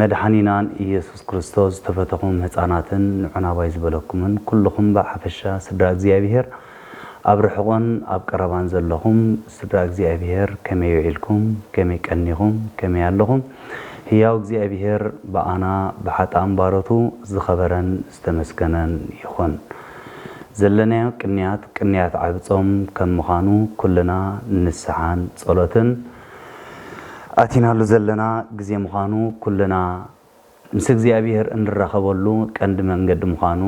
መድሓኒናን ኢየሱስ ክርስቶስ ዝተፈተኹም ህጻናትን ንዑና ባይ ዝበለኩምን ኩሉኹም ብሓፈሻ ስድራ እግዚኣብሔር ኣብ ርሑቕን ኣብ ቀረባን ዘለኹም ስድራ እግዚኣብሔር ከመይ ውዒልኩም ከመይ ቀኒኹም ከመይ ኣለኹም ህያው እግዚኣብሔር ብኣና ብሓጥኣን ባሮቱ ዝኸበረን ዝተመስገነን ይኹን ዘለናዮ ቅንያት ቅንያት ዓቢ ጾም ከም ምኻኑ ኩልና ንስሓን ጸሎትን ኣቲናሉ ዘለና ግዜ ምዃኑ ኩልና ምስ እግዚኣብሔር እንራኸበሉ ቀንዲ መንገዲ ምዃኑ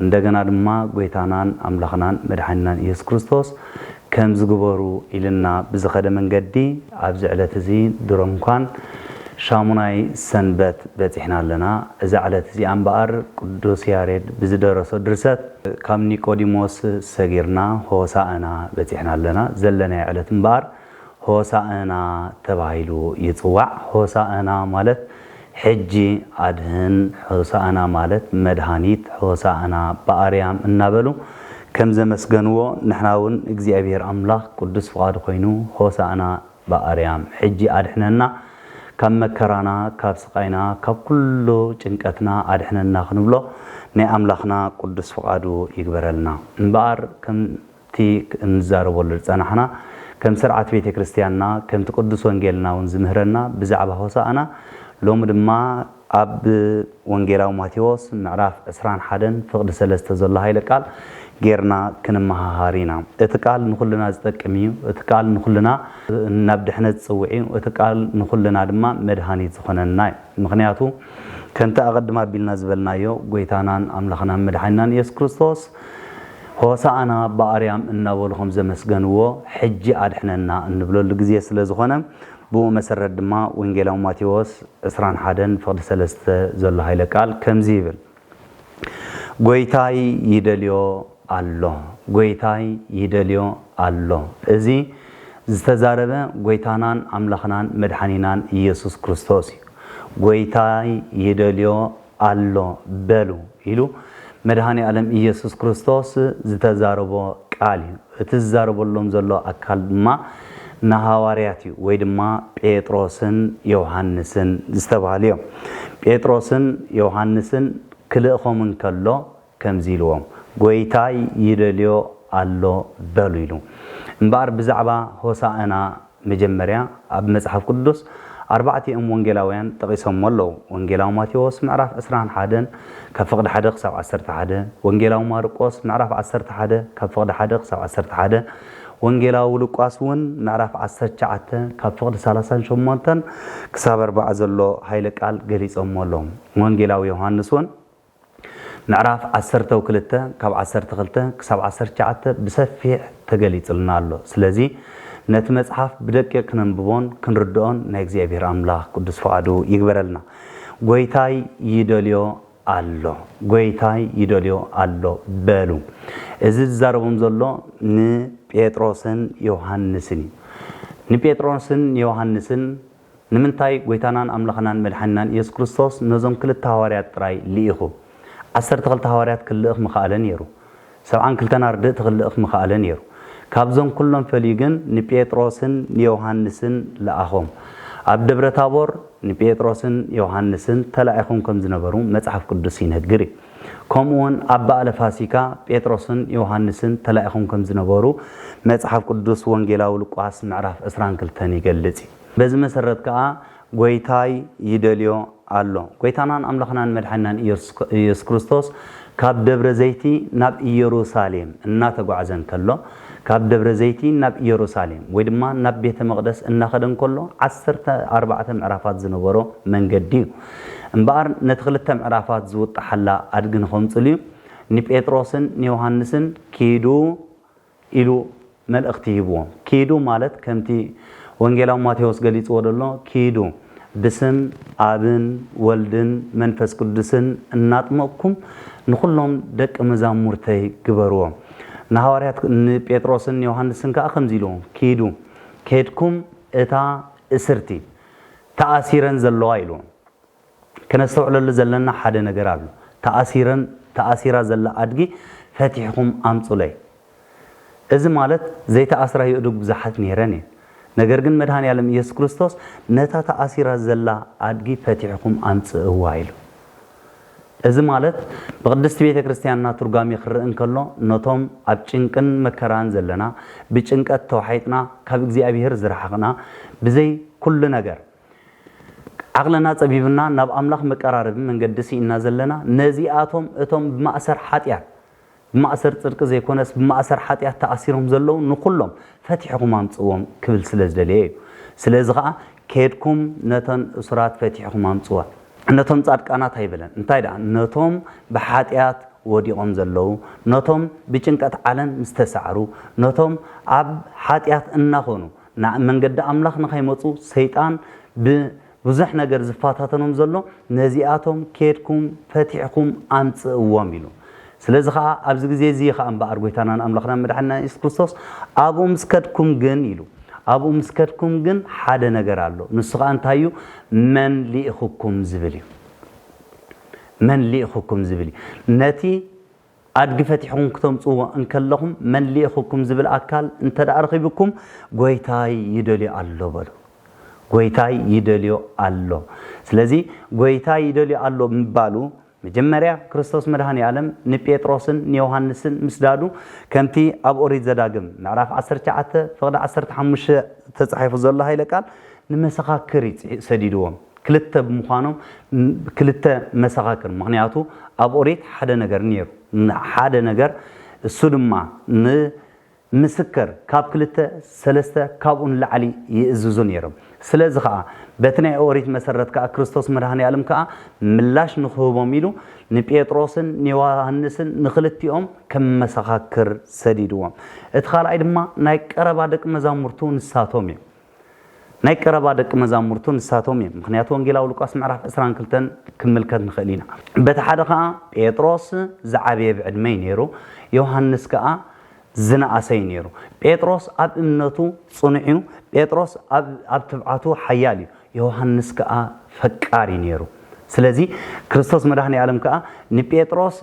እንደገና ድማ ጎይታናን ኣምላኽናን መድሓኒናን ኢየሱስ ክርስቶስ ከምዚ ግበሩ ኢልና ብዝኸደ መንገዲ ኣብዚ ዕለት እዚ ድሮ እንኳን ሻሙናይ ሰንበት በጺሕና ኣለና እዛ ዕለት እዚኣ እምበኣር ቅዱስ ያሬድ ብዝደረሶ ድርሰት ካብ ኒቆዲሞስ ሰጊርና ሆሣእና በጺሕና ኣለና። ዘለናዮ ዕለት እምበኣር ሆሣእና ተባሂሉ ይጽዋዕ። ሆሣእና ማለት ሕጂ ኣድኅን፣ ሆሣእና ማለት መድኃኒት፣ ሆሣእና በኣርያም እናበሉ ከም ዘመስገንዎ ንሕና እውን እግዚኣብሔር ኣምላኽ ቅዱስ ፍቓዱ ኮይኑ ሆሣእና፣ ብኣርያም ሕጂ ኣድሕነና ካብ መከራና ካብ ስቓይና ካብ ኩሉ ጭንቀትና ኣድሕነና ክንብሎ ናይ ኣምላኽና ቅዱስ ፍቓዱ ይግበረልና። እምበኣር ከምቲ እንዛረበሉ ዝጸናሕና ከም ስርዓት ቤተ ክርስትያንና ከምቲ ቅዱስ ወንጌልና ውን ዝምህረና ብዛዕባ ሆሳእና ሎሚ ድማ ኣብ ወንጌላዊ ማቴዎስ ምዕራፍ ዕስራን ሓደን ፍቕዲ ሰለስተ ዘሎ ሃይለ ቃል ጌርና ክንመሃሃር ኢና። እቲ ቃል ንኹልና ዝጠቅም እዩ። እቲ ቃል ንኹልና ናብ ድሕነት ዝጽውዕ እዩ። እቲ ቃል ንኹልና ድማ መድሃኒት ዝኾነና እዩ። ምኽንያቱ ከምቲ ኣቐድም ኣቢልና ዝበልናዮ ጎይታናን ኣምላኽናን መድሓኒናን ኢየሱስ ክርስቶስ ሆሳእና ብኣርያም እናበሉ ከምዘመስገንዎ ሕጂ ኣድሕነና እንብለሉ ግዜ ስለዝኾነ ብኡ መሰረት ድማ ወንጌላዊ ማቴዎስ ዕስራን ሓደን ፍቕዲ ሰለስተ ዘሎ ሃይለ ቃል ከምዚ ይብል ጎይታይ ይደልዮ ኣሎ ጎይታይ ይደልዮ ኣሎ እዚ ዝተዛረበ ጎይታናን ኣምላኽናን መድሓኒናን ኢየሱስ ክርስቶስ እዩ ጎይታይ ይደልዮ ኣሎ በሉ ኢሉ መድሃኔኣለም ኢየሱስ ክርስቶስ ዝተዛረቦ ቃል እዩ። እቲ ዝዛረበሎም ዘሎ ኣካል ድማ ንሃዋርያት እዩ ወይ ድማ ጴጥሮስን ዮውሃንስን ዝተባህሉ እዮም። ጴጥሮስን ዮውሃንስን ክልእኾም እንከሎ ከምዚ ኢልዎም፣ ጐይታይ ይደልዮ ኣሎ በሉ ኢሉ። እምበኣር ብዛዕባ ሆሳእና መጀመርያ ኣብ መጽሓፍ ቅዱስ ኣርባዕቲኦም ወንጌላውያን ጠቒሶሞ ኣለዉ፣ ወንጌላዊ ማቴዎስ ምዕራፍ ዕስራን ሓደን ካብ ፍቕዲ ሓደ ክሳብ ዓሰርተ ሓደ፣ ወንጌላዊ ማርቆስ ምዕራፍ ዓሰርተ ሓደ ካብ ፍቕዲ ሓደ ክሳብ ዓሰርተ ሓደ፣ ወንጌላዊ ሉቃስ እውን ምዕራፍ ዓሰርተ ትሽዓተ ካብ ፍቕዲ ሰላሳን ሸሞንተን ክሳብ ኣርባዓ ዘሎ ሃይለ ቃል ገሊጾሞ ኣለዉ። ወንጌላዊ ዮሃንስ እውን ምዕራፍ ዓሰርተው ክልተ ካብ ዓሰርተ ክልተ ክሳብ ዓሰርተ ትሽዓተ ብሰፊሕ ተገሊጽልና ኣሎ ስለዚ ነቲ መጽሓፍ ብደቂቅ ክነንብቦን ክንርድኦን ናይ እግዚኣብሔር ኣምላክ ቅዱስ ፍቃዱ ይግበረልና ጎይታይ ይደልዮ ኣሎ ጎይታይ ይደልዮ ኣሎ በሉ እዚ ዝዛረቦም ዘሎ ንጴጥሮስን ዮሃንስን እዩ ንጴጥሮስን ዮሃንስን ንምንታይ ጐይታናን ኣምላኽናን መድሓኒናን ኢየሱስ ክርስቶስ ነዞም ክልተ ሃዋርያት ጥራይ ልኢኹ? ዓሰርተ ክልተ ሃዋርያት ክልእኽ ምኸኣለ ነይሩ። ሰብዓን ክልተን ኣርድእቲ ክልእኽ ምኸኣለ ነይሩ። ካብዞም ኩሎም ፈልዩ ግን ንጴጥሮስን ንዮሃንስን ለኣኾም። ኣብ ደብረ ታቦር ንጴጥሮስን ዮሃንስን ተላኢኾም ከም ዝነበሩ መጽሓፍ ቅዱስ ይነግር እዩ። ከምኡውን ኣብ በኣለ ፋሲካ ጴጥሮስን ዮሃንስን ተላኢኹም ከም ዝነበሩ መጽሓፍ ቅዱስ ወንጌላዊ ሉቃስ ምዕራፍ ዕስራን ክልተን ይገልጽ እዩ። በዚ መሰረት ከኣ ጐይታይ ይደልዮ ኣሎ። ጐይታናን ኣምላኽናን መድሓኒናን ኢየሱስ ክርስቶስ ካብ ደብረ ዘይቲ ናብ ኢየሩሳሌም እናተጓዕዘ እንከሎ ካብ ደብረ ዘይቲ ናብ ኢየሩሳሌም ወይ ድማ ናብ ቤተ መቕደስ እናኸደ እንከሎ ዓሰርተ ኣርባዕተ ምዕራፋት ዝነበሮ መንገዲ እዩ። እምበኣር ነቲ ክልተ ምዕራፋት ዝውጣሓላ ኣድጊ ንኸምጽልዩ ንጴጥሮስን ንዮሃንስን ኪዱ ኢሉ መልእኽቲ ሂብዎም። ኪዱ ማለት ከምቲ ወንጌላዊ ማቴዎስ ገሊጽዎ ደሎ ኪዱ ብስም ኣብን ወልድን መንፈስ ቅዱስን እናጥመቕኩም ንኹሎም ደቂ መዛሙርተይ ግበርዎም። ንሃዋርያት ንጴጥሮስን ንዮሃንስን ከኣ ከምዚ ኢልዎም ኪዱ ኬድኩም እታ እስርቲ ተኣሲረን ዘለዋ ኢሉ። ከነስተውዕለሉ ዘለና ሓደ ነገር ኣሎ። ተኣሲረን ተኣሲራ ዘላ ኣድጊ ፈቲሕኹም ኣምጹለይ። እዚ ማለት ዘይተኣስራ የእዱግ ብዙሓት ነይረን እየን። ነገር ግን መድሃኔኣለም ኢየሱስ ክርስቶስ ነታ ተኣሲራ ዘላ ኣድጊ ፈቲሕኹም ኣምጽእዋ ኢሉ። እዚ ማለት ብቅድስቲ ቤተ ክርስቲያንና ትርጓሜ ክረእ እንከሎ ነቶም ኣብ ጭንቅን መከራን ዘለና ብጭንቀት ተዋሒጥና ካብ እግዚኣብሔር ዝረሓቅና ብዘይ ኩሉ ነገር ዓቅልና ጸቢብና ናብ ኣምላኽ መቀራረቢ መንገዲ ሲኢንና ዘለና ነዚኣቶም እቶም ብማእሰር ሓጢኣት ብማእሰር ጽድቂ ዘይኮነስ ብማእሰር ሓጢኣት ተኣሲሮም ዘለዉ ንኹሎም ፈቲሕኹም ኣምጽእዎም ክብል ስለ ዝደለየ እዩ። ስለዚ ኸኣ ኬድኩም ነተን እሱራት ፈቲሕኹም ኣምጽወን። ነቶም ጻድቃናት ኣይበለን፣ እንታይ ደኣ ነቶም ብሓጢኣት ወዲቖም ዘለዉ፣ ነቶም ብጭንቀት ዓለም ዝተሳዕሩ፣ ነቶም ኣብ ሓጢኣት እናኾኑ ናብ መንገዲ ኣምላኽ ንኸይመጹ ሰይጣን ብ ብዙሕ ነገር ዝፋታተኖም ዘሎ ነዚኣቶም ኬድኩም ፈቲሕኩም ኣምጽእዎም ኢሉ። ስለዚ ኸኣ ኣብዚ ግዜ እዚ እዩ ኸኣ እምበኣር ጐይታናን ኣምላኽናን መድሓኒናን የሱስ ክርስቶስ ኣብኡ ምስ ከድኩም ግን ኢሉ ኣብኡ ምስ ከድኩም ግን ሓደ ነገር ኣሎ ንሱ ኸኣ እንታይ እዩ መን ልኢኹኩም ዝብል እዩ መን ልኢኹኩም ዝብል እዩ ነቲ ኣድጊ ፈቲሕኹም ክተምጽዎ እንከለኹም መን ልኢኹኩም ዝብል ኣካል እንተድኣ ረኺብኩም ጎይታይ ይደልዮ ኣሎ በሉ። ጎይታይ ይደልዮ ኣሎ። ስለዚ ጎይታይ ይደልዮ ኣሎ ምባሉ መጀመርያ ክርስቶስ መድኃኔዓለም ንጴጥሮስን ንዮሐንስን ምስዳዱ ከምቲ ኣብ ኦሪት ዘዳግም ምዕራፍ ዓሰርተ ትሽዓተ ፍቕዲ ዓሰርተ ሓሙሽተ ተጻሒፉ ዘሎ ኃይለ ቃል ንመሰኻክር እዩ ሰዲድዎም። ክልተ ብምዃኖም ክልተ መሰኻክር ምኽንያቱ ኣብ ኦሪት ሓደ ነገር ነይሩ ሓደ ነገር እሱ ድማ ን ምስክር ካብ ክልተ ሰለስተ ካብኡ ንላዕሊ ይእዝዙ ነይሮም ስለዚ ከኣ በቲ ናይ ኦሪት መሰረት ከኣ ክርስቶስ መድሃኒኣለም ከኣ ምላሽ ንኽህቦም ኢሉ ንጴጥሮስን ንዮሃንስን ንኽልቲኦም ከም መሰኻክር ሰዲድዎም እቲ ካልኣይ ድማ ናይ ቀረባ ደቂ መዛሙርቱ ንሳቶም እዮም ናይ ቀረባ ደቂ መዛሙርቱ ንሳቶም እዮም። ምክንያቱ ወንጌላዊ ሉቃስ ምዕራፍ ዕስራን ክልተን ክንምልከት ንክእል ኢና። በቲ ሓደ ከኣ ጴጥሮስ ዝዓበየ ብዕድመ እዩ ነይሩ፣ ዮሃንስ ከኣ ዝነኣሰ እዩ ነይሩ። ጴጥሮስ ኣብ እምነቱ ጽኑዕ እዩ፣ ጴጥሮስ ኣብ ትብዓቱ ሓያል እዩ፣ ዮሃንስ ከኣ ፈቃር እዩ ነይሩ። ስለዚ ክርስቶስ መድኃኔ ዓለም ከኣ ንጴጥሮስ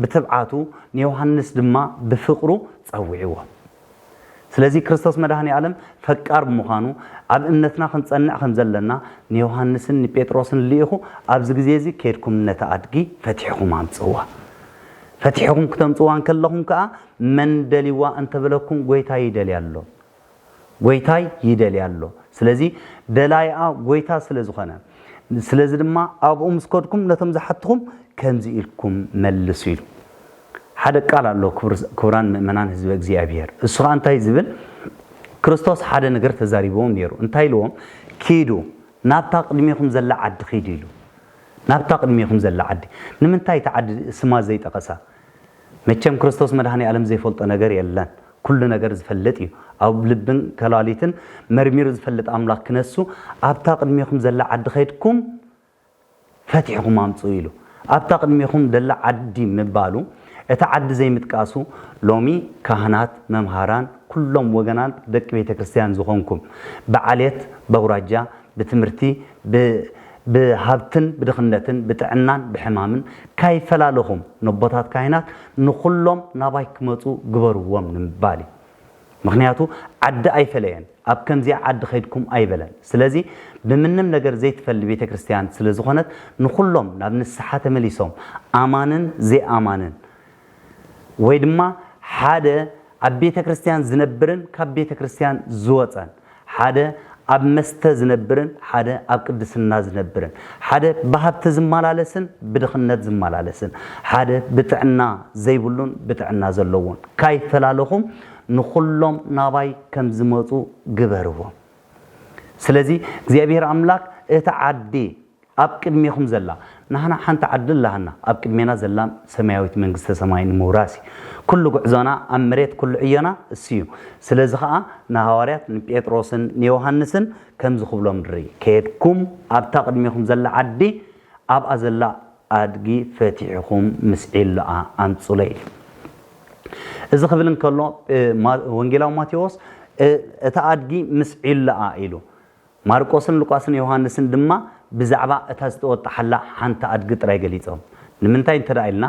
ብትብዓቱ ንዮሃንስ ድማ ብፍቅሩ ጸዊዕዎ። ስለዚ ክርስቶስ መድኃኔዓለም ፈቃር ብምዃኑ ኣብ እምነትና ክንጸንዕ ከም ዘለና ንዮሓንስን ንጴጥሮስን ልኢኹ ኣብዚ ግዜ እዚ ኬድኩም ነታ ኣድጊ ፈቲሕኹም ኣምጽእዋ። ፈቲሕኹም ክተምጽእዋ እንከለኹም ከኣ መን ደልይዋ እንተ በለኩም ጐይታይ ይደልያ ኣሎ። ጐይታይ ይደልያ ኣሎ። ስለዚ ደላይኣ ጐይታ ስለ ዝኾነ ስለዚ ድማ ኣብኡ ምስ ከድኩም ነቶም ዝሓትኹም ከምዚ ኢልኩም መልሱ ኢሉ። ሓደ ቃል ኣሎ ክቡራን ምእመናን ህዝበ እግዚኣብሔር እሱ ከኣ እንታይ ዝብል ክርስቶስ ሓደ ነገር ተዛሪብዎም ነይሩ እንታይ ኢልዎም ኪዱ ናብታ ቅድሜኹም ዘላ ዓዲ ኪዱ ኢሉ ናብታ ቅድሜኹም ዘላ ዓዲ ንምንታይ እቲ ዓዲ ስማ ዘይጠቐሳ መቸም ክርስቶስ መድኃኔ ዓለም ዘይፈልጦ ነገር የለን ኩሉ ነገር ዝፈልጥ እዩ ኣብ ልብን ከላሊትን መርሚሩ ዝፈልጥ ኣምላኽ ክነሱ ኣብታ ቅድሜኹም ዘላ ዓዲ ኸድኩም ፈቲሕኹም ኣምጽኡ ኢሉ ኣብታ ቅድሜኹም ደላ ዓዲ ምባሉ እታ ዓዲ ዘይምጥቃሱ ሎሚ ካህናት መምሃራን ኩሎም ወገናት ደቂ ቤተ ክርስትያን ዝኾንኩም ብዓሌት በውራጃ ብትምህርቲ ብ ብሃብትን ብድኽነትን ብጥዕናን ብሕማምን ካይፈላለኹም ነቦታት ካህናት ንኹሎም ናባይ ክመጹ ግበርዎም ንምባል እዩ። ምኽንያቱ ዓዲ ኣይፈለየን ኣብ ከምዚኣ ዓዲ ከይድኩም ኣይበለን ስለዚ ብምንም ነገር ዘይትፈሊ ቤተክርስትያን ስለ ዝኾነት ንኹሎም ናብ ንስሓ ተመሊሶም ኣማንን ዘይኣማንን ወይ ድማ ሓደ ኣብ ቤተክርስትያን ዝነብርን ካብ ቤተክርስትያን ዝወጸን ሓደ ኣብ መስተ ዝነብርን ሓደ ኣብ ቅድስና ዝነብርን፣ ሓደ ብሃብቲ ዝመላለስን ብድኽነት ዝመላለስን፣ ሓደ ብጥዕና ዘይብሉን ብጥዕና ዘለዎን፣ ካይፈላለኹም ንኹሎም ናባይ ከም ዝመጹ ግበርዎም። ስለዚ እግዚኣብሄር ኣምላክ እቲ ዓዲ፣ ኣብ ቅድሜኹም ዘላ ናህና ሓንቲ ዓዲ ኣላትና ኣብ ቅድሜና ዘላ ሰማያዊት መንግስተ ሰማይ ንምውራስ እዩ ኩሉ ጉዕዞና ኣብ መሬት ኩሉ ዕዮና እሱ እዩ ስለዚ ከኣ ንሃዋርያት ንጴጥሮስን ንዮሃንስን ከምዚ ክብሎም ንርኢ ከድኩም ኣብታ ቅድሜኹም ዘላ ዓዲ ኣብኣ ዘላ ኣድጊ ፈቲሕኹም ምስ ዒሎኣ ኣምጹለይ ኢሉ እዚ ክብል እንከሎ ወንጌላዊ ማቴዎስ እታ ኣድጊ ምስ ዒሎኣ ኢሉ ማርቆስን ሉቃስን ዮሃንስን ድማ ብዛዕባ እታ ዝተወጣሓላ ሓንቲ ኣድጊ ጥራይ ገሊጾም። ንምንታይ እንተ ኢልና፣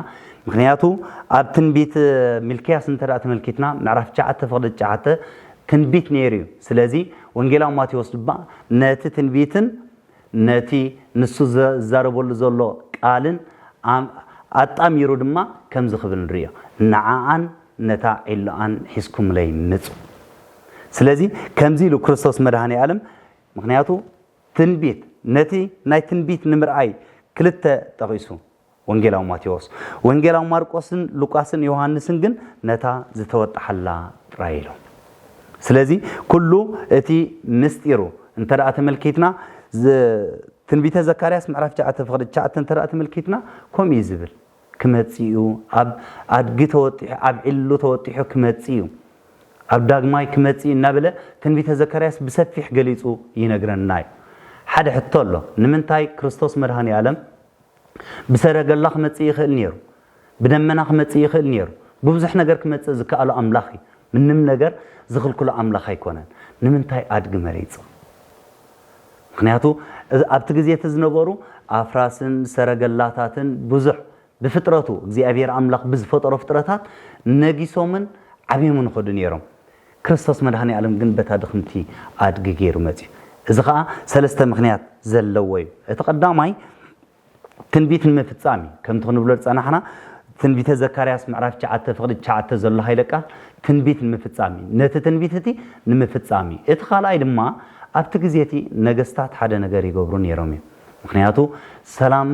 ምኽንያቱ ኣብ ትንቢት ሚልክያስ እንተ ተመልኪትና ምዕራፍ ትሽዓተ ፍቕዲ ትሽዓተ ትንቢት ነይሩ እዩ። ስለዚ ወንጌላዊ ማቴዎስ ድማ ነቲ ትንቢትን ነቲ ንሱ ዝዛረበሉ ዘሎ ቃልን ኣጣሚሩ ድማ ከምዚ ክብል ንርእዮ፣ ንዓኣን ነታ ዒሎኣን ሒዝኩምለይ ምጹ። ስለዚ ከምዚ ኢሉ ክርስቶስ መድኃኔዓለም ምኽንያቱ ትንቢት ነቲ ናይ ትንቢት ንምርኣይ ክልተ ጠቒሱ ወንጌላዊ ማቴዎስ ወንጌላዊ ማርቆስን ሉቃስን ዮሐንስን ግን ነታ ዝተወጥሓላ ጥራይ ኢሎም ስለዚ ኩሉ እቲ ምስጢሩ እንተ ተመልኪትና ትንቢተ ዘካርያስ ምዕራፍ 9 ፍቕዲ 9 እንተ ተመልኪትና ከምኡ እዩ ዝብል ክመጽእ'ዩ፣ ኣብ ኣድጊ ተወጢሑ፣ ኣብ ዒሉ ተወጢሑ ክመጽእ'ዩ፣ ኣብ ዳግማይ ክመጽእ'ዩ እናበለ ትንቢተ ዘካርያስ ብሰፊሕ ገሊጹ ይነግረና'ዩ። ሓደ ሕቶ ኣሎ፣ ንምንታይ ክርስቶስ መድኃኔዓለም ብሰረገላ ክመጽእ ይኽእል ነይሩ፣ ብደመና ክመጽእ ይኽእል ነይሩ፣ ብብዙሕ ነገር ክመጽእ ዝከኣሎ ኣምላኽ'ዩ፣ ምንም ነገር ዝኽልክሎ ኣምላኽ ኣይኮነን፣ ንምንታይ ኣድጊ መሪጹ? ምኽንያቱ ኣብቲ ግዜ እቲ ዝነበሩ ኣፍራስን ሰረገላታትን ብዙሕ ብፍጥረቱ እግዚኣብሄር ኣምላኽ ብዝፈጠሮ ፍጥረታት ነጊሶምን ዓብዮምን ይኸዱ ነይሮም። ክርስቶስ መድኃኔዓለም ግን በታ ድኽምቲ ኣድጊ ገይሩ መጺኡ። እዚ ኸኣ ሰለስተ ምኽንያት ዘለዎ እዩ። እቲ ቀዳማይ፣ ትንቢት ንምፍጻም እዩ ከምቲ ክንብሎ ዝጸናሕና ትንቢተ ዘካርያስ ምዕራፍ ትሽዓተ ፍቕዲ ትሽዓተ ዘሎ ሃይለ ቃል ትንቢት ንምፍጻም እዩ ነቲ ትንቢት እቲ ንምፍጻም እዩ እቲ ካልኣይ ድማ ኣብቲ ግዜ እቲ ነገስታት ሓደ ነገር ይገብሩ ነይሮም እዮም ምክንያቱ ሰላም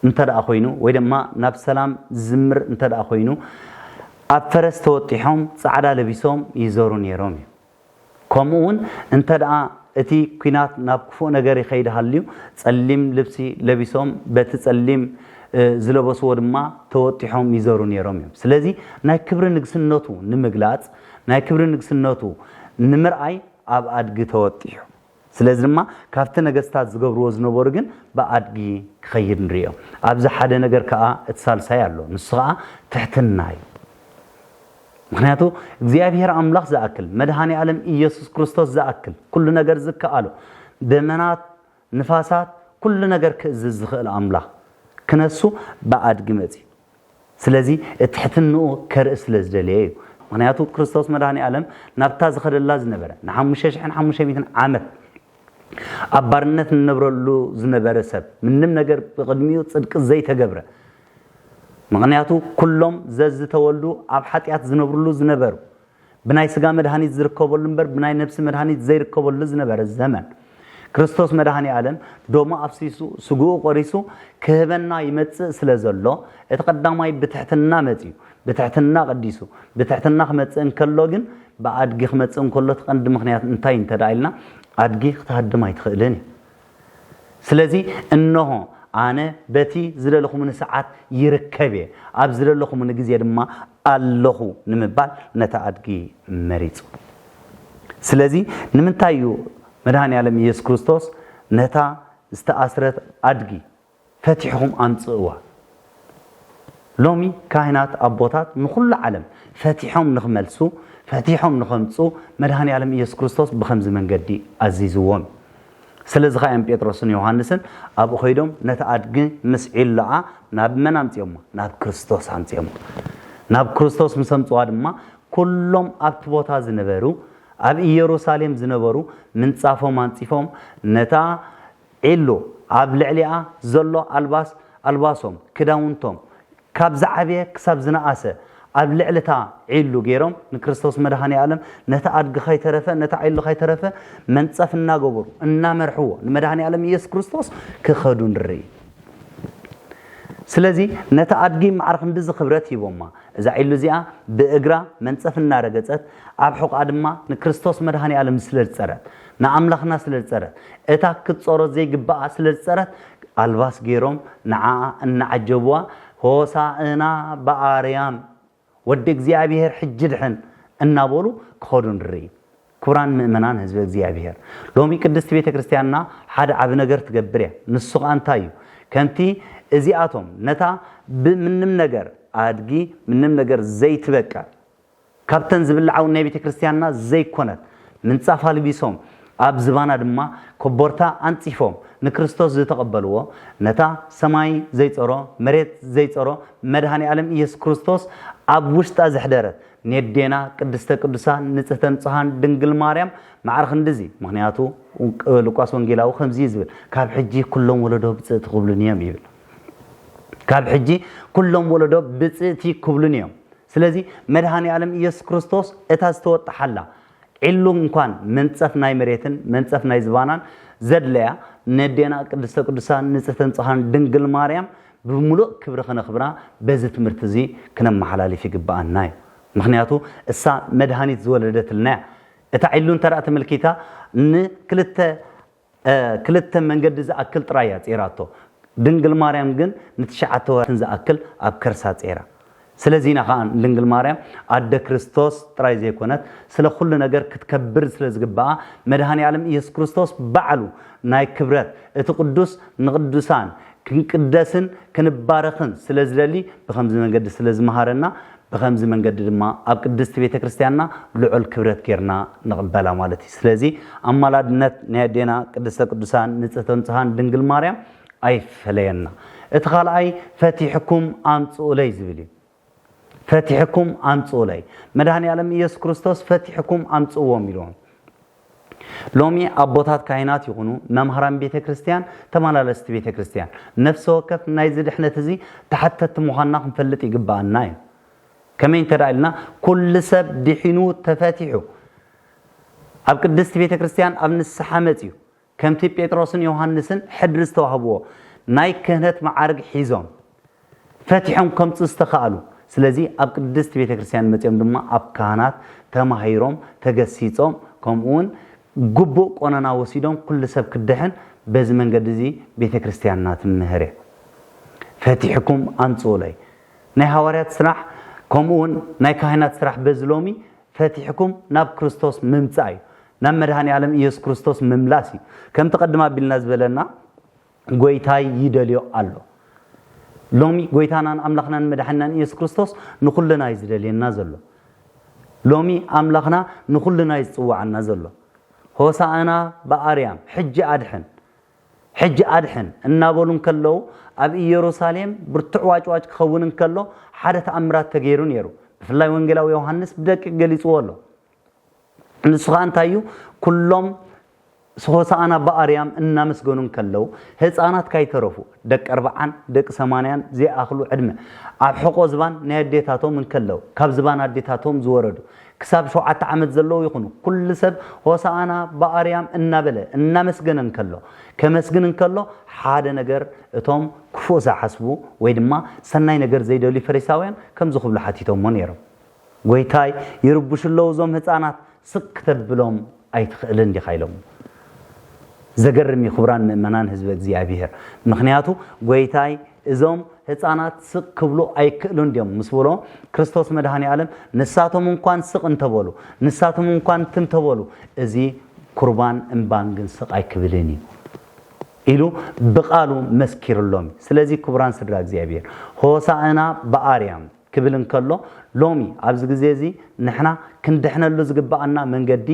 እንተ ደኣ ኮይኑ ወይ ድማ ናብ ሰላም ዝዝምር እንተ ደኣ ኮይኑ ኣብ ፈረስ ተወጢሖም ጻዕዳ ለቢሶም ይዘሩ ነይሮም እዩ ከምኡውን እንተድኣ እቲ ኲናት ናብ ክፉእ ነገር ይኸይድ ሃልዩ፣ ጸሊም ልብሲ ለቢሶም በቲ ጸሊም ዝለበስዎ ድማ ተወጢሖም ይዘሩ ነይሮም እዮም። ስለዚ ናይ ክብሪ ንግስነቱ ንምግላጽ፣ ናይ ክብሪ ንግስነቱ ንምርኣይ ኣብ ኣድጊ ተወጢሑ። ስለዚ ድማ ካብቲ ነገስታት ዝገብርዎ ዝነበሩ ግን ብኣድጊ ክኸይድ ንርእዮ። ኣብዚ ሓደ ነገር ከኣ እቲ ሳልሳይ ኣሎ፣ ንሱ ኸኣ ትሕትና እዩ። ምኽንያቱ እግዚኣብሄር ኣምላኽ ዝኣክል፣ መድኃኔ ዓለም ኢየሱስ ክርስቶስ ዝኣክል፣ ኩሉ ነገር ዝከኣሎ፣ ደመናት፣ ንፋሳት፣ ኩሉ ነገር ክእዝዝ ዝኽእል ኣምላኽ ክነሱ ብኣድጊ መጺኡ። ስለዚ እትሕትንኡ ከርኢ ስለ ዝደለየ እዩ። ምኽንያቱ ክርስቶስ መድኃኔዓለም ናብታ ዝኸደላ ዝነበረ ንሓሙሽተ ሽሕን ሓሙሽተ ሚእትን ዓመት ኣብ ባርነት ንነብረሉ ዝነበረ ሰብ ምንም ነገር ብቕድሚኡ ጽድቂ ዘይተገብረ ምኽንያቱ ኩሎም ዘዝተወልዱ ኣብ ሓጢኣት ዝነብርሉ ዝነበሩ ብናይ ስጋ መድሃኒት ዝርከበሉ እምበር ብናይ ነብሲ መድሃኒት ዘይርከበሉ ዝነበረ ዘመን ክርስቶስ መድሃኔ ኣለም ደሙ ኣፍሲሱ ስግኡ ቆሪሱ ክህበና ይመጽእ ስለ ዘሎ እቲ ቀዳማይ ብትሕትና መጽዩ ብትሕትና ቀዲሱ ብትሕትና ክመጽእ እንከሎ ግን ብኣድጊ ክመጽእ እንከሎ እቲ ቀንዲ ምክንያት እንታይ እንተ ኢልና ኣድጊ ክትሃድም ኣይትኽእልን እዩ ስለዚ እንሆ ኣነ በቲ ዝደለኹምኒ ሰዓት ይርከብ እየ፣ ኣብ ዝደለኹምኒ ግዜ ድማ ኣለኹ ንምባል ነታ ኣድጊ መሪጹ። ስለዚ ንምንታይ እዩ መድሃኔ ኣለም ኢየሱስ ክርስቶስ ነታ ዝተኣስረት ኣድጊ ፈቲሕኹም ኣምጽእዋ ሎሚ ካህናት ኣቦታት ንኹሉ ዓለም ፈቲሖም ንኽመልሱ ፈቲሖም ንኸምጹ መድኃኔዓለም ኢየሱስ ክርስቶስ ብኸምዚ መንገዲ ኣዚዝዎም ስለዚ ኸኣ እዮም ጴጥሮስን ዮሐንስን ኣብኡ ኸይዶም ነቲ ኣድጊ ምስ ዒሎኣ ናብ መን ኣምጺኦማ ናብ ክርስቶስ ኣምጺኦማ ናብ ክርስቶስ ምስ ኣምጽዋ ድማ ኩሎም ኣብቲ ቦታ ዝነበሩ ኣብ ኢየሩሳሌም ዝነበሩ ምንጻፎም ኣንጺፎም ነታ ዒሉ ኣብ ልዕሊኣ ዘሎ ኣልባስ ኣልባሶም፣ ክዳውንቶም፣ ካብ ዝዓበየ ክሳብ ዝነኣሰ ኣብ ልዕሊ'ታ ዒሉ ገይሮም ንክርስቶስ መድኃኔዓለም ነቲ ኣድጊ ከይተረፈ ነታ ዒሉ ከይተረፈ መንጸፍ እናገበሩ እናመርሕዎ ንመድኃኔዓለም ኢየሱስ ክርስቶስ ክኸዱ ንርኢ። ስለዚ ነቲ ኣድጊ መዓር ክንድዚ ክብረት ሂቦማ። እዛ ዒሉ እዚኣ ብእግራ መንጸፍ እናረገጸት ኣብ ሕቖኣ ድማ ንክርስቶስ መድኃኔዓለም ስለ ዝጸረት ንኣምላኽና ስለ ዝጸረት፣ እታ ክትጸሮ ዘይግብኣ ስለ ዝጸረት፣ ኣልባስ ገይሮም ንዓኣ እናዓጀብዋ፣ ሆሣእና በኣርያም፣ ወዲ እግዚኣብሔር ሕጂ ድሕን፣ እናበሉ ክኸዱ ንርኢ። ክቡራን ምእመናን ሕዝበ እግዚኣብሔር፣ ሎሚ ቅድስት ቤተ ክርስቲያንና ሓደ ዓቢ ነገር ትገብር እያ። ንሱ ኸኣ እንታይ እዩ? ከምቲ እዚኣቶም ነታ ብምንም ነገር ኣድጊ ምንም ነገር ዘይትበቅዕ ካብተን ዝብልዓውን ናይ ቤተ ክርስቲያንና ዘይኰነት ምንጻፍ ኣልቢሶም፣ ኣብ ዝባና ድማ ኮቦርታ ኣንጺፎም ንክርስቶስ ዝተቐበልዎ፣ ነታ ሰማይ ዘይጸሮ መሬት ዘይጸሮ መድኃኔ ዓለም ኢየሱስ ክርስቶስ ኣብ ውሽጣ ዘኅደረት ኔዴና ቅድስተ ቅዱሳን ንጽሕተ ንጹሓን ድንግል ማርያም ማዕረ ክንድዚ ምኽንያቱ ሉቃስ ወንጌላዊ ከምዚ እዩ ዝብል ካብ ሕጂ ኩሎም ወለዶ ብጽእቲ ክብሉኒ እዮም ይብል ካብ ሕጂ ኩሎም ወለዶ ብጽእቲ ክብሉኒ እዮም ስለዚ መድኃኔዓለም ኢየሱስ ክርስቶስ እታ ዝተወጠሓላ ዒሉ እንኳን መንጸፍ ናይ መሬትን መንጸፍ ናይ ዝባናን ዘድለያ ነዴና ቅድስተ ቅዱሳን ንጽህተ ንጹሓን ድንግል ማርያም ብምሉእ ክብሪ ክነኽብራ በዚ ትምህርቲ እዚ ክነመሓላልፍ ይግበኣና እዩ ምኽንያቱ እሳ መድኃኒት ዝወለደትልና እያ እታ ዒሉ እንተ ተመልኪታ ንክልተ ክልተ መንገዲ ዝኣክል ጥራይ እያ ጼራቶ ድንግል ማርያም ግን ንትሽዓተ ወርሕን ዝኣክል ኣብ ከርሳ ጼራ ስለዚ ኢና ከኣ ንድንግል ማርያም ኣደ ክርስቶስ ጥራይ ዘይኮነት ስለ ኩሉ ነገር ክትከብር ስለ ዝግብኣ መድሃኒኣለም ኢየሱስ ክርስቶስ ባዕሉ ናይ ክብረት እቲ ቅዱስ ንቅዱሳን ክንቅደስን ክንባረኽን ስለ ዝደሊ ብከምዚ መንገዲ ስለ ዝመሃረና ብኸምዚ መንገዲ ድማ ኣብ ቅድስቲ ቤተ ክርስቲያንና ልዑል ክብረት ጌርና ንቕበላ ማለት እዩ። ስለዚ ኣማላድነት ናይ ኣዴና ቅድስተ ቅዱሳን ንጽህተ ንጹሃን ድንግል ማርያም ኣይፈለየና። እቲ ካልኣይ ፈቲሕኩም ኣምጽኡለይ ዝብል እዩ። ፈቲሕኩም ኣምጽኡለይ መድኃኔ ዓለም ኢየሱስ ክርስቶስ ፈቲሕኩም ኣምጽእዎም ኢልዎም። ሎሚ ኣቦታት ካህናት ይኹኑ መምሃራን ቤተ ክርስቲያን ተመላለስቲ ቤተ ክርስቲያን ነፍሰ ወከፍ ናይዚ ድሕነት እዚ ተሓተቲ ምዃንና ክንፈልጥ ይግብኣና እዩ። ከመይ እንተደኣ ኢልና ኩሉ ሰብ ድሒኑ ተፈቲሑ ኣብ ቅድስቲ ቤተ ክርስቲያን ኣብ ንስሓ መጺኡ ከምቲ ጴጥሮስን ዮሃንስን ሕድሪ ዝተዋህብዎ ናይ ክህነት መዓርግ ሒዞም ፈቲሖም ከምጽኡ ዝተኻእሉ፣ ስለዚ ኣብ ቅድስት ቤተ ክርስቲያን መጺኦም ድማ ኣብ ካህናት ተማሂሮም ተገሲጾም ከምኡውን ግቡእ ቆነና ወሲዶም ኩሉ ሰብ ክድሕን በዚ መንገዲ እዚ ቤተ ክርስቲያንና ትምህር እያ። ፈቲሕኩም ኣምጽኡለይ። ናይ ሃዋርያት ስራሕ ከምኡውን ናይ ካህናት ስራሕ በዚ ሎሚ ፈቲሕኩም ናብ ክርስቶስ ምምጻእ እዩ። ናብ መድኃኔዓለም ኢየሱስ ክርስቶስ ምምላስ እዩ። ከምቲ ቅድም ኣቢልና ዝበለና ጐይታይ ይደልዮ ኣሎ። ሎሚ ጐይታናን ኣምላኽናን መድኃኒናን ኢየሱስ ክርስቶስ ንኹልና እዩ ዝደልየና ዘሎ። ሎሚ ኣምላኽና ንኹልና እዩ ዝጽውዓና ዘሎ። ሆሳዕና በኣርያም ሕጂ ኣድሕን ሕጂ ኣድሕን እናበሉ እንከለዉ፣ ኣብ ኢየሩሳሌም ብርቱዕ ዋጭዋጭ ክኸውን እንከሎ፣ ሓደ ተኣምራት ተገይሩ ነይሩ። ብፍላይ ወንጌላዊ ዮሃንስ ብደቂቕ ገሊጽዎ ኣሎ። ንሱ ኸኣ እንታይ እዩ? ኵሎም ሆሳዕና ብኣርያም እናመስገኑ እንከለዉ፣ ህጻናት ካይተረፉ፣ ደቂ ኣርብዓን ደቂ ሰማንያን ዘይኣኽሉ ዕድመ፣ ኣብ ሕቖ ዝባን ናይ ኣዴታቶም እንከለዉ፣ ካብ ዝባን ኣዴታቶም ዝወረዱ፣ ክሳብ ሸውዓተ ዓመት ዘለዉ ይኹኑ፣ ኩሉ ሰብ ሆሳኣና ብኣርያም እናበለ እናመስገነ እንከሎ ከመስግን እንከሎ ሓደ ነገር እቶም ክፉእ ዝሓስቡ ወይ ድማ ሰናይ ነገር ዘይደልዩ ፈሪሳውያን ከምዚ ክብሉ ሓቲቶሞ ነይሮም ጎይታይ ይርብሹ ኣለዉ እዞም ህጻናት ስቅ ክተብሎም ኣይትኽእልን ዲኻ ኢሎሞ ዘገርም እዩ ክቡራን ምእመናን ህዝበ እግዚኣብሔር ምክንያቱ ጎይታይ እዞም ህፃናት ስቕ ክብሉ ኣይክእሉን ድዮም ምስ በሎ ክርስቶስ መድሃኔ ኣለም ንሳቶም እንኳን ስቕ እንተበሉ ንሳቶም እንኳን ትም ተበሉ እዚ ኩርባን እምባን ግን ስቕ ኣይክብልን እዩ ኢሉ ብቃሉ መስኪርሎም እዩ ስለዚ ክቡራን ስድራ እግዚኣብሔር ሆሳእና ብኣርያም ክብል እንከሎ ሎሚ ኣብዚ ግዜ እዚ ንሕና ክንድሕነሉ ዝግብኣና መንገዲ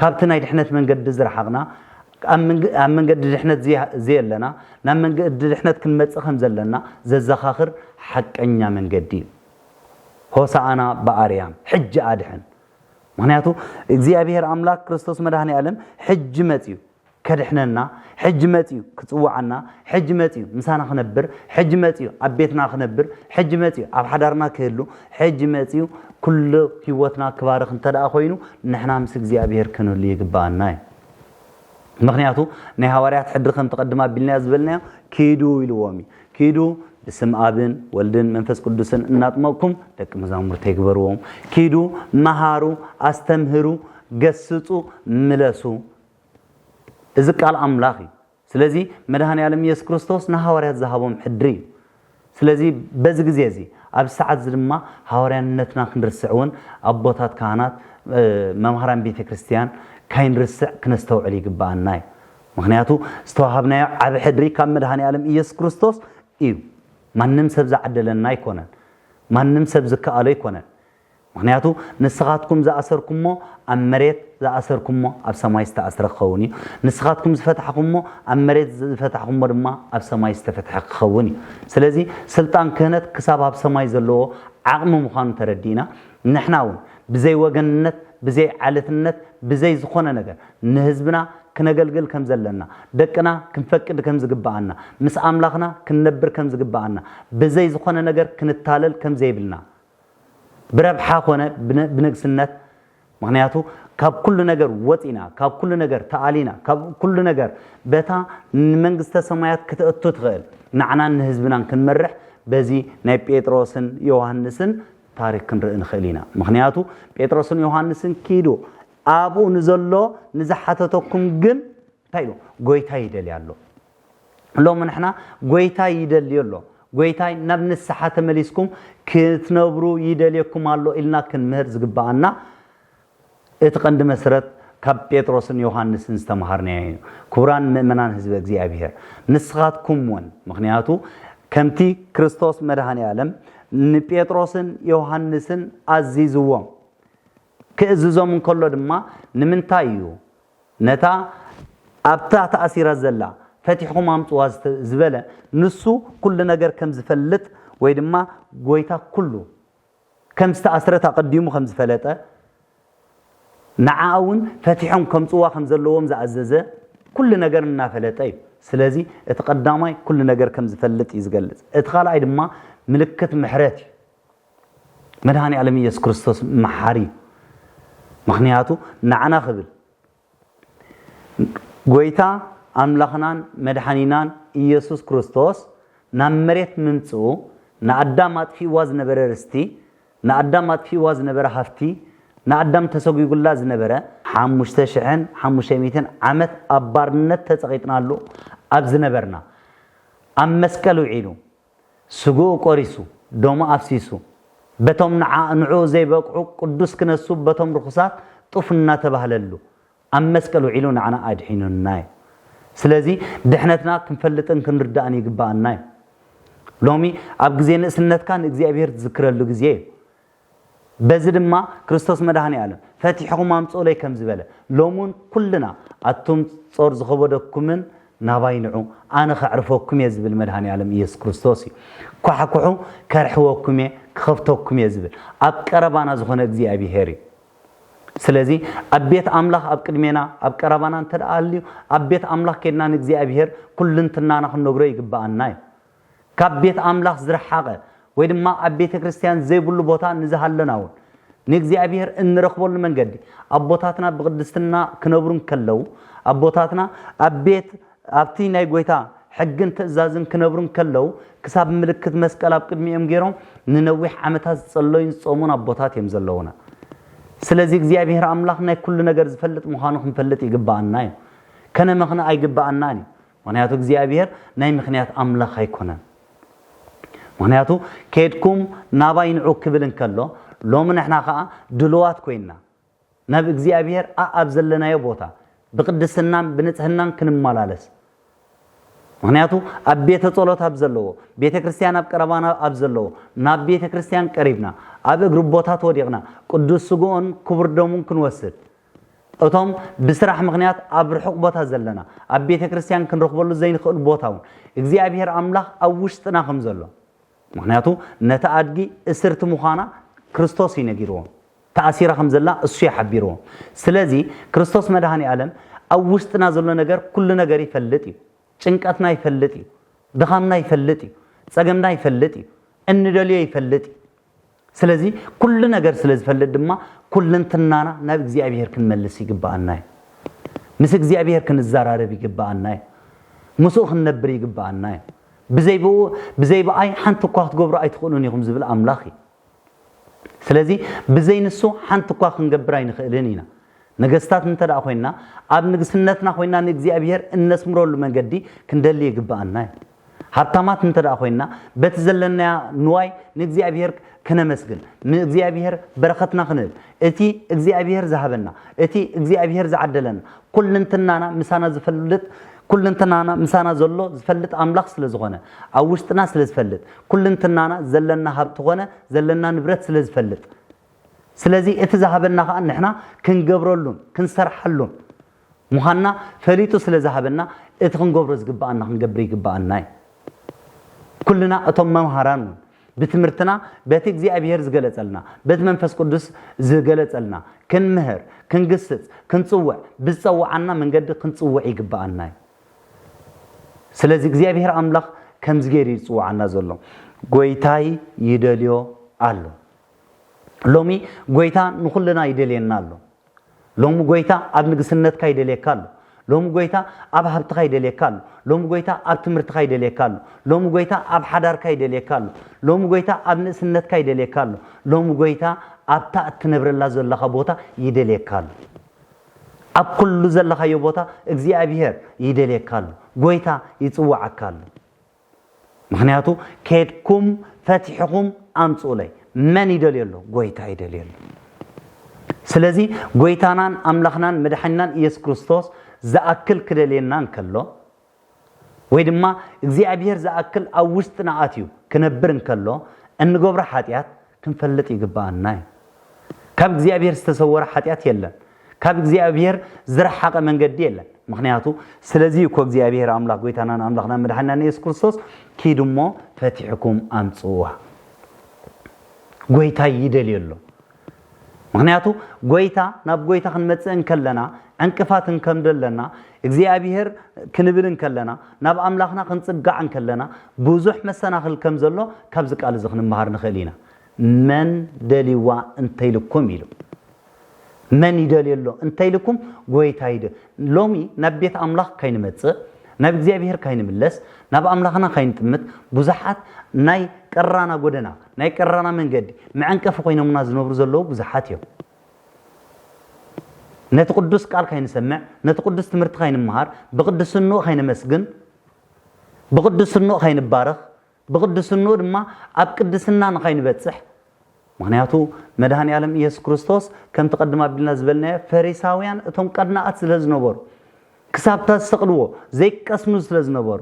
ካብቲ ናይ ድሕነት መንገዲ ዝረሓቕና ኣብ መንገዲ ድሕነት ዘየለና ናብ መንገዲ ድሕነት ክንመጽእ ከም ዘለና ዘዘኻኽር ሓቀኛ መንገዲ እዩ። ሆሳኣና ብኣርያም ሕጂ ኣድሕን ምክንያቱ እግዚኣብሔር ኣምላክ ክርስቶስ መድኃኔ ዓለም ሕጂ መጽዩ ከድሕነና ሕጂ መጽዩ ክጽውዓና ሕጂ መጽዩ ምሳና ክነብር ሕጂ መጽዩ ኣብ ቤትና ክነብር ሕጂ መጽዩ ኣብ ሓዳርና ክህሉ ሕጂ መጽዩ ኩሉ ህይወትና ክባርኽ እንተደኣ ኮይኑ ንሕና ምስ እግዚኣብሔር ክንህሉ ይግባኣና እዩ ምኽንያቱ ናይ ሃዋርያት ሕድሪ ከምቲ ቅድም ኣቢልናዮ ዝበልናዮ ኪዱ ኢልዎም እዩ። ኪዱ ብስም ኣብን ወልድን መንፈስ ቅዱስን እናጥመቕኩም ደቂ መዛሙርቲ ይግበርዎም። ኪዱ መሃሩ፣ ኣስተምህሩ፣ ገስጹ፣ ምለሱ። እዚ ቃል ኣምላኽ እዩ። ስለዚ መድኃኔዓለም ኢየሱስ ክርስቶስ ንሃዋርያት ዝሃቦም ሕድሪ እዩ። ስለዚ በዚ ግዜ እዚ ኣብዚ ሰዓት እዚ ድማ ሃዋርያነትና ክንርስዕ እውን ኣቦታት ካህናት መምሃራን ቤተ ክርስቲያን ካይንርስዕ ክነስተውዕል ይግብኣና እዩ። ምኽንያቱ ዝተዋሃብናዮ ዓቢ ሕድሪ ካብ መድኃኔዓለም ኢየሱስ ክርስቶስ እዩ። ማንም ሰብ ዝዓደለና ኣይኮነን። ማንም ሰብ ዝከኣሎ ኣይኮነን። ምኽንያቱ ንስኻትኩም ዝኣሰርኩሞ ኣብ መሬት ዝኣሰርኩሞ ኣብ ሰማይ ዝተኣስረ ክኸውን እዩ፣ ንስኻትኩም ዝፈታሕኹሞ ኣብ መሬት ዝፈታሕኹሞ ድማ ኣብ ሰማይ ዝተፈትሐ ክኸውን እዩ። ስለዚ ስልጣን ክህነት ክሳብ ኣብ ሰማይ ዘለዎ ዓቕሚ ምዃኑ ተረዲእና ንሕና እውን ብዘይ ወገንነት ብዘይ ዓለትነት ብዘይ ዝኾነ ነገር ንህዝብና ክነገልግል ከም ዘለና ደቅና ክንፈቅድ ከም ዝግበኣና ምስ ኣምላኽና ክንነብር ከም ዝግበኣና ብዘይ ዝኾነ ነገር ክንታለል ከም ዘይብልና ብረብሓ ኮነ ብንግስነት ምክንያቱ ካብ ኩሉ ነገር ወፂና ካብ ኩሉ ነገር ተኣሊና ካብ ኩሉ ነገር በታ ንመንግስተ ሰማያት ክትእቱ ትኽእል ንዓናን ንህዝብናን ክንመርሕ በዚ ናይ ጴጥሮስን ዮሃንስን ታሪክ ክንርኢ ንኽእል ኢና ምክንያቱ ጴጥሮስን ዮሃንስን ኪዱ ኣብኡ ንዘሎ ንዝሓተተኩም ግን እንታይ ኢሉ ጎይታ ይደልያ ኣሎ ሎሚ ንሕና ጎይታይ ይደልዮ ኣሎ ጎይታይ ናብ ንስሓ ተመሊስኩም ክትነብሩ ይደልየኩም ኣሎ ኢልና ክንምህር ዝግብኣና እቲ ቀንዲ መስረት ካብ ጴጥሮስን ዮሃንስን ዝተምሃርናዮ እዩ ክቡራን ምእመናን ህዝበ እግዚኣብሔር ንስኻትኩም እውን ምክንያቱ ከምቲ ክርስቶስ መድኃኔ ዓለም ንጴጥሮስን ዮሃንስን ኣዚዝዎም ክእዝዞም እንከሎ ድማ ንምንታይ እዩ ነታ ኣብታ ተኣሲራ ዘላ ፈቲሕኹም ኣምጽዋ ዝበለ ንሱ ኩሉ ነገር ከም ዝፈልጥ ወይ ድማ ጎይታ ኩሉ ከም ዝተኣስረት ኣቐዲሙ ከም ዝፈለጠ ንዓኣ እውን ፈቲሖም ከምጽዋ ከም ዘለዎም ዝኣዘዘ ኩሉ ነገር እናፈለጠ እዩ ስለዚ እቲ ቀዳማይ ኩሉ ነገር ከም ዝፈልጥ እዩ ዝገልጽ እቲ ካልኣይ ድማ ምልክት ምሕረት እዩ መድሃኒኣለም ኢየሱስ ክርስቶስ መሓሪ እዩ ምክንያቱ ንዓና ክብል ጎይታ ኣምላኽናን መድሓኒናን ኢየሱስ ክርስቶስ ናብ መሬት ምምጽኡ ንኣዳም ኣጥፊእዋ ዝነበረ ርስቲ ንኣዳም ኣጥፊእዋ ዝነበረ ሃፍቲ ንኣዳም ተሰጒጉላ ዝነበረ ሓሙሽተ ሽሕን ሓሙሽተ ሚትን ዓመት ኣብ ባርነት ተጸቒጥናሉ ኣብ ዝነበርና ኣብ መስቀል ውዒሉ ስግኡ ቆሪሱ፣ ደሙ ኣፍሲሱ፣ በቶም ንዓ ንዕኡ ዘይበቅዑ ቅዱስ ክነሱ በቶም ርኹሳት ጡፍ እናተባህለሉ ኣብ መስቀል ውዒሉ ንዓና ኣድሒኑና እዩ። ስለዚ ድሕነትና ክንፈልጥን ክንርዳእን ይግበኣና እዩ። ሎሚ ኣብ ግዜ ንእስነትካ ንእግዚኣብሔር ትዝክረሉ ግዜ እዩ። በዚ ድማ ክርስቶስ መድኃኔዓለም ፈቲሕኹም ኣምጽኡለይ ከም ዝበለ፣ ሎምውን ኩልና ኣቱም ጾር ዝኸበደኩምን ናባይ ንዑ ኣነ ከዕርፈኩም እየ ዝብል መድኃኔዓለም ኢየሱስ ክርስቶስ እዩ። ኳሕኩሑ ከርሕወኩም እየ ክኸፍተኩም እየ ዝብል ኣብ ቀረባና ዝኾነ እግዚኣብሔር እዩ። ስለዚ ኣብ ቤት ኣምላኽ ኣብ ቅድሜና ኣብ ቀረባና እንተ ኣልዩ ኣብ ቤት ኣምላኽ ኬድና ንእግዚኣብሔር ኩልንትናና ክንነግሮ ይግብኣና እዩ። ካብ ቤት ኣምላኽ ዝረሓቐ ወይ ድማ ኣብ ቤተ ክርስቲያን ዘይብሉ ቦታ ንዝሃለና እውን ንእግዚኣብሔር እንረኽበሉ መንገዲ ኣቦታትና ብቅድስትና ክነብሩ እንከለዉ ኣቦታትና ኣብ ቤት ኣብቲ ናይ ጎይታ ሕግን ትእዛዝን ክነብሩ እንከለዉ ክሳብ ምልክት መስቀል ኣብ ቅድሚኦም ገይሮም ንነዊሕ ዓመታት ዝጸለዩን ዝጾሙን ኣቦታት እዮም ዘለዉና ስለዚ እግዚኣብሔር ኣምላኽ ናይ ኩሉ ነገር ዝፈልጥ ምዃኑ ክንፈልጥ ይግባኣና እዩ ከነመኽንኣ ኣይግባኣናን እዩ ምኽንያቱ እግዚኣብሄር ናይ ምኽንያት ኣምላኽ ኣይኮነን። ምኽንያቱ ኬድኩም ናባይ ንዑ ክብል እንከሎ ሎሚ ንሕና ከኣ ድሉዋት ኮይንና ናብ እግዚኣብሄር ኣኣብ ዘለናዮ ቦታ ብቅድስናን ብንጽህናን ክንመላለስ ምኽንያቱ ኣብ ቤተ ጸሎት ኣብ ዘለዎ ቤተ ክርስቲያን ኣብ ቀረባና ኣብ ዘለዎ ናብ ቤተ ክርስቲያን ቀሪብና ኣብ እግሪ ቦታት ወዲቕና ቅዱስ ስግኦን ክቡር ደሙን ክንወስድ እቶም ብስራሕ ምኽንያት ኣብ ርሑቕ ቦታ ዘለና፣ ኣብ ቤተ ክርስቲያን ክንረኽበሉ ዘይንኽእል ቦታ እውን፣ እግዚኣብሄር ኣምላኽ ኣብ ውሽጥና ከም ዘሎ፣ ምኽንያቱ ነታ ኣድጊ እስርቲ ምዃና ክርስቶስ እዩ ነጊርዎም። ተኣሲራ ከም ዘላ እሱ እዩ ሓቢርዎም። ስለዚ ክርስቶስ መድኃኔ ዓለም ኣብ ውሽጥና ዘሎ ነገር ኩሉ ነገር ይፈልጥ እዩ። ጭንቀትና ይፈልጥ እዩ። ድኻምና ይፈልጥ እዩ። ጸገምና ይፈልጥ እዩ። እንደልዮ ይፈልጥ እዩ። ስለዚ ኩሉ ነገር ስለ ዝፈልጥ ድማ ኩልንትናና ናብ እግዚኣብሔር ክንመልስ ይግበኣና እዩ። ምስ እግዚኣብሔር ክንዘራረብ ይግበኣና እዩ። ምስኡ ክንነብር ይግበኣና እዩ። ብዘይ ብኡ ብዘይ ብኣይ ሓንቲ እኳ ክትገብሩ ኣይትኽእሉን ኢኹም ዝብል ኣምላኽ እዩ። ስለዚ ብዘይ ንሱ ሓንቲ እኳ ክንገብር ኣይንኽእልን ኢና። ነገስታት እንተ ደኣ ኮይንና ኣብ ንግስነትና ኮይንና ንእግዚኣብሔር እነስምረሉ መንገዲ ክንደሊ ይግበኣና እዩ። ሃብታማት እንተ ደኣ ዀይንና፣ በቲ ዘለናዮ ንዋይ ንእግዚኣብሄር ከነመስግን፣ ንእግዚኣብሄር በረኸትና ክንህብ፣ እቲ እግዚኣብሄር ዝሃበና፣ እቲ እግዚኣብሄር ዝዓደለና፣ ኵልንትናና ምሳና ዝፈልጥ፣ ኵልንትናና ምሳና ዘሎ ዝፈልጥ ኣምላኽ ስለ ዝዀነ፣ ኣብ ውሽጥና ስለ ዝፈልጥ፣ ኵልንትናና ዘለና ሃብቲ ዀነ ዘለና ንብረት ስለ ዝፈልጥ፣ ስለዚ እቲ ዝሃበና ኸኣ ንሕና ክንገብረሉን ክንሰርሓሉን፣ ምዃንና ፈሊጡ ስለ ዝሃበና እቲ ክንገብሮ ዝግብኣና ክንገብር ይግብኣና እዩ። ኩልና እቶም መምሃራን እውን ብትምህርትና በቲ እግዚኣብሄር ዝገለጸልና በቲ መንፈስ ቅዱስ ዝገለጸልና ክንምህር ክንግስጽ ክንጽውዕ ብዝጸውዓና መንገዲ ክንጽውዕ ይግብኣና እዩ። ስለዚ እግዚኣብሄር ኣምላኽ ከምዚ ገይሩ እዩ ዝጽውዓና ዘሎ ጎይታይ ይደልዮ ኣሎ። ሎሚ ጎይታ ንኹልና ይደልየና ኣሎ። ሎሚ ጎይታ ኣብ ንግስነትካ ይደልየካ ኣሎ ሎሚ ጎይታ ኣብ ሃብትካ ይደልየካ ኣሎ ሎሚ ጎይታ ኣብ ትምህርትካ ይደልየካ ኣሎ ሎሚ ጎይታ ኣብ ሓዳርካ ይደልየካ ኣሎ ሎሚ ጎይታ ኣብ ንእስነትካ ይደልየካ ኣሎ ሎሚ ጎይታ ኣብታ እትነብረላ ዘለካ ቦታ ይደልየካ ኣሎ ኣብ ኩሉ ዘለካዮ ቦታ እግዚኣብሄር ይደልየካ ኣሎ ጎይታ ይጽዋዓካ ኣሎ ምክንያቱ ኬድኩም ፈቲሕኹም ኣምጽኡለይ መን ይደልዮ ኣሎ ጎይታ ይደልዮ ኣሎ ስለዚ ጎይታናን ኣምላኽናን መድሓኒናን ኢየሱስ ክርስቶስ ዝኣክል ክደልየና እንከሎ ወይ ድማ እግዚኣብሔር ዝኣክል ኣብ ውሽጥና ኣትዩ ክነብር እንከሎ እንገብሮ ሓጢኣት ክንፈልጥ ይግብኣና እዩ። ካብ እግዚኣብሔር ዝተሰወረ ሓጢኣት የለን። ካብ እግዚኣብሔር ዝረሓቐ መንገዲ የለን። ምክንያቱ ስለዚ እዩ እኮ እግዚኣብሔር ኣምላኽ ጎይታናን ኣምላኽናን መድሓኒናን ኢየሱስ ክርስቶስ ኪድ እሞ ፈቲሕኩም ኣምጽዋ ጎይታ ይደልዮ ኣሎ። ምክንያቱ ጎይታ ናብ ጎይታ ክንመጽእ እንከለና ዕንቅፋት እንከምዶ ኣለና እግዚኣብሄር ክንብል እንከለና፣ ናብ ኣምላኽና ክንጽጋዕ እንከለና፣ ብዙሕ መሰናኽል ከም ዘሎ ካብዚ ቃል እዚ ክንመሃር ንኽእል ኢና። መን ደልይዋ እንተ ኢልኩም ኢሉ። መን ይደልዮ ኣሎ እንተ ኢልኩም ጎይታ ይደ ሎሚ ናብ ቤት ኣምላኽ ካይንመጽእ ናብ እግዚኣብሄር ካይንምለስ ናብ ኣምላኽና ካይንጥምት ብዙሓት ናይ ቀራና ጎደና ናይ ቀራና መንገዲ መዐንቀፊ ኮይኖምና ዝነብሩ ዘለዉ ብዙሓት እዮም። ነቲ ቅዱስ ቃል ከይንሰምዕ፣ ነቲ ቅዱስ ትምህርቲ ከይንመሃር፣ ብቅድስንኡ ከይነመስግን፣ ብቅድስንኡ ከይንባረኽ፣ ብቅድስንኡ ድማ ኣብ ቅድስና ንኸይንበጽሕ ምክንያቱ መድሃኒኣለም ኢየሱስ ክርስቶስ ከምቲ ቀድም ኣቢልና ዝበልናዮ ፈሪሳውያን እቶም ቀናኣት ስለ ዝነበሩ ክሳብ ተሰቕልዎ ዘይቀስኑ ስለ ዝነበሩ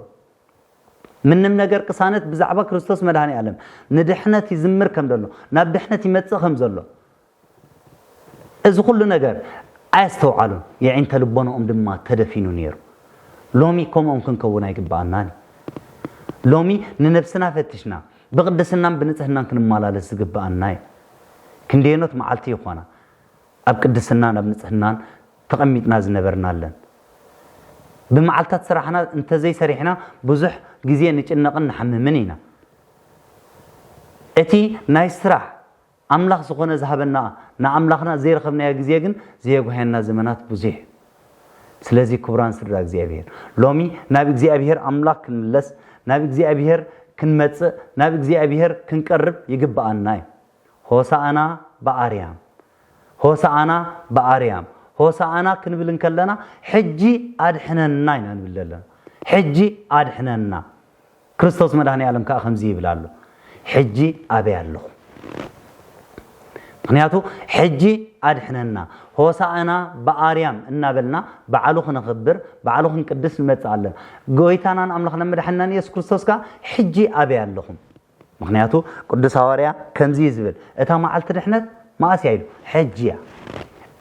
ምንም ነገር ቅሳነት ብዛዕባ ክርስቶስ መድሃኒኣለም ንድሕነት ይዝምር ከም ዘሎ ናብ ድሕነት ይመጽእ ከም ዘሎ እዚ ኹሉ ነገር ኣየስተውዓሉን፣ የዒንተ ልቦናኦም ድማ ተደፊኑ ነይሩ። ሎሚ ከምኦም ክንከውን ኣይግብኣናን እዩ። ሎሚ ንነብስና ፈቲሽና ብቕድስናን ብንጽህናን ክንመላለስ ዝግብኣና እዩ። ክንደየኖት መዓልቲ ይኾና ኣብ ቅድስናን ኣብ ንጽህናን ተቐሚጥና ዝነበርናለን። ብመዓልታት ስራሕና እንተዘይሰሪሕና ብዙሕ ግዜ ንጭነቕን ንሓምምን ኢና። እቲ ናይ ስራሕ ኣምላኽ ዝኾነ ዝሃበና ንኣምላኽና ዘይረኸብናዮ ግዜ ግን ዘየጉሃየና ዘመናት ብዙሕ እዩ። ስለዚ ክቡራን ስድራ እግዚኣብሄር ሎሚ ናብ እግዚኣብሄር ኣምላኽ ክንምለስ ናብ እግዚኣብሄር ክንመጽእ ናብ እግዚኣብሄር ክንቀርብ ይግብኣና እዩ። ሆሳእና ብኣርያም ሆሳእና ብኣርያም ሆሳእና ክንብል እንከለና ሕጂ ኣድሕነና ኢና ንብል ዘለና። ሕጂ ኣድሕነና ክርስቶስ መድኃኔዓለም ከኣ ከምዚ ይብል ኣሎ ሕጂ ኣበይ ኣለኹም ምኽንያቱ ሕጂ ኣድኅነና ሆሣዕና በኣርያም እናበልና በዓሉ ክነኽብር በዓሉ ክንቅድስ ንመጽእ ኣለና ጐይታናን ኣምላኽናን መድኃኒናን ኢየሱስ ክርስቶስ ከኣ ሕጂ ኣበይ ኣለኹም ምኽንያቱ ቅዱስ ሃዋርያ ከምዚ እዩ ዝብል እታ መዓልቲ ድኅነት መኣስ እያ ኢሉ ሕጂ እያ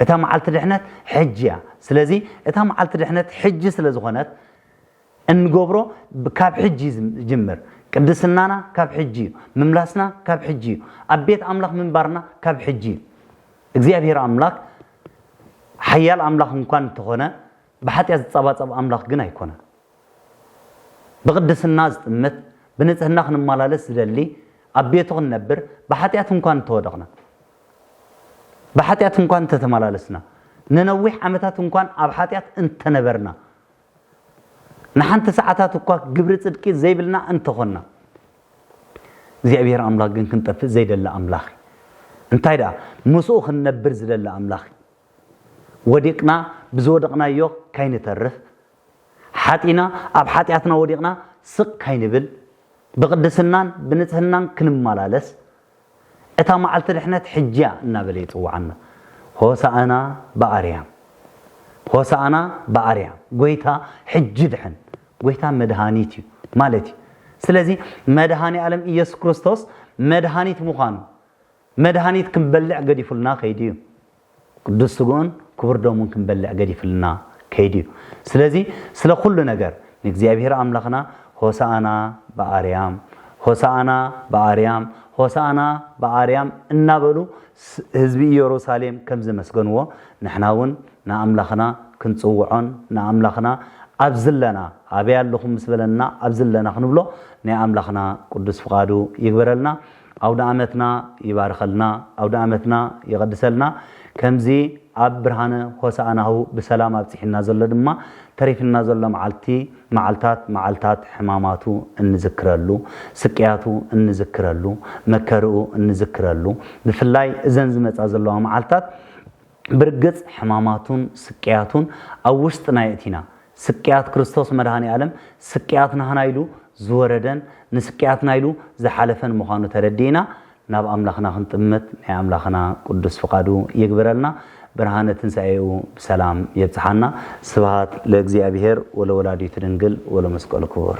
እታ መዓልቲ ድኅነት ሕጂ እያ ስለዚ እታ መዓልቲ ድኅነት ሕጂ ስለ ዝኾነት እንገብሮ ካብ ሕጂ ይጅምር ቅድስናና ካብ ሕጂ እዩ ምምላስና ካብ ሕጂ እዩ ኣብ ቤት ኣምላኽ ምንባርና ካብ ሕጂ እዩ እግዚኣብሔር ኣምላክ ሓያል ኣምላኽ እንኳን እንተኾነ ብሓጢኣት ዝጸባጸብ ኣምላኽ ግን ኣይኮነን ብቅድስና ዝጥምት ብንጽህና ክንመላለስ ዝደሊ ኣብ ቤቱ ክንነብር ብሓጢኣት እንኳን እንተወደቕና ብሓጢኣት እንኳን እንተተመላለስና ንነዊሕ ዓመታት እንኳን ኣብ ሓጢኣት እንተነበርና ንሓንቲ ሰዓታት እኳ ግብሪ ጽድቂ ዘይብልና እንተ ዀንና፣ እግዚኣብሄር ኣምላኽ ግን ክንጠፍእ ዘይደሊ ኣምላኽ እዩ። እንታይ ደኣ፣ ምስኡ ኽንነብር ዝደሊ ኣምላኽ እዩ። ወዲቕና ብዝወደቕናዮ ካይንተርፍ፣ ሓጢእና ኣብ ሓጢኣትና ወዲቕና ስቕ ካይንብል፣ ብቕድስናን ብንጽህናን ክንመላለስ፣ እታ መዓልቲ ድሕነት ሕጂ'ያ እናበለ ይጽውዓና። ሆሣዕና በኣርያም! ሆሣዕና በኣርያም! ጐይታ ሕጂ ድሐን! ጐይታ መድኃኒት እዩ ማለት እዩ። ስለዚ መድኃኔ ዓለም ኢየሱስ ክርስቶስ መድኃኒት ምዃኑ፣ መድኃኒት ክንበልዕ ገዲፉልና ከይዱ እዩ። ቅዱስ ስግኡን ክቡር ደሙን ክንበልዕ ገዲፍልና ከይዱ እዩ። ስለዚ ስለ ኩሉ ነገር ንእግዚኣብሔር ኣምላኽና ሆሳእና በኣርያም፣ ሆሳእና በኣርያም፣ ሆሳእና በኣርያም እናበሉ ህዝቢ ኢየሩሳሌም ከም ዘመስገንዎ ንሕና እውን ንኣምላኽና ክንጽውዖን ንኣምላኽና ኣብ ዝለና ኣበይ ኣለኹም ምስ በለና ኣብ ዝለና ክንብሎ ናይ ኣምላኽና ቅዱስ ፍቓዱ ይግበረልና። ኣውደኣመትና ይባርኸልና ኣውደኣመትና ይቐድሰልና ከምዚ ኣብ ብርሃነ ሆሳእናሁ ብሰላም ኣብጺሕና ዘሎ ድማ ተሪፍና ዘሎ መዓልቲ መዓልታት መዓልታት ሕማማቱ እንዝክረሉ ስቅያቱ እንዝክረሉ መከርኡ እንዝክረሉ ብፍላይ እዘን ዝመጻ ዘለዋ መዓልታት ብርግጽ ሕማማቱን ስቅያቱን ኣብ ውሽጥና የእቲና ስቅያት ክርስቶስ መድኃኔ ዓለም ስቅያት ናህና ኢሉ ዝወረደን ንስቅያትና ኢሉ ዝሓለፈን ምዃኑ ተረዲእና ናብ ኣምላኽና ክንጥምት ናይ ኣምላኽና ቅዱስ ፍቃዱ ይግበረልና ብርሃነ ትንሣኤኡ ብሰላም የብጽሓና ስብሃት ለእግዚኣብሔር ወለወላዲቱ ድንግል ወለመስቀሉ ክቡር።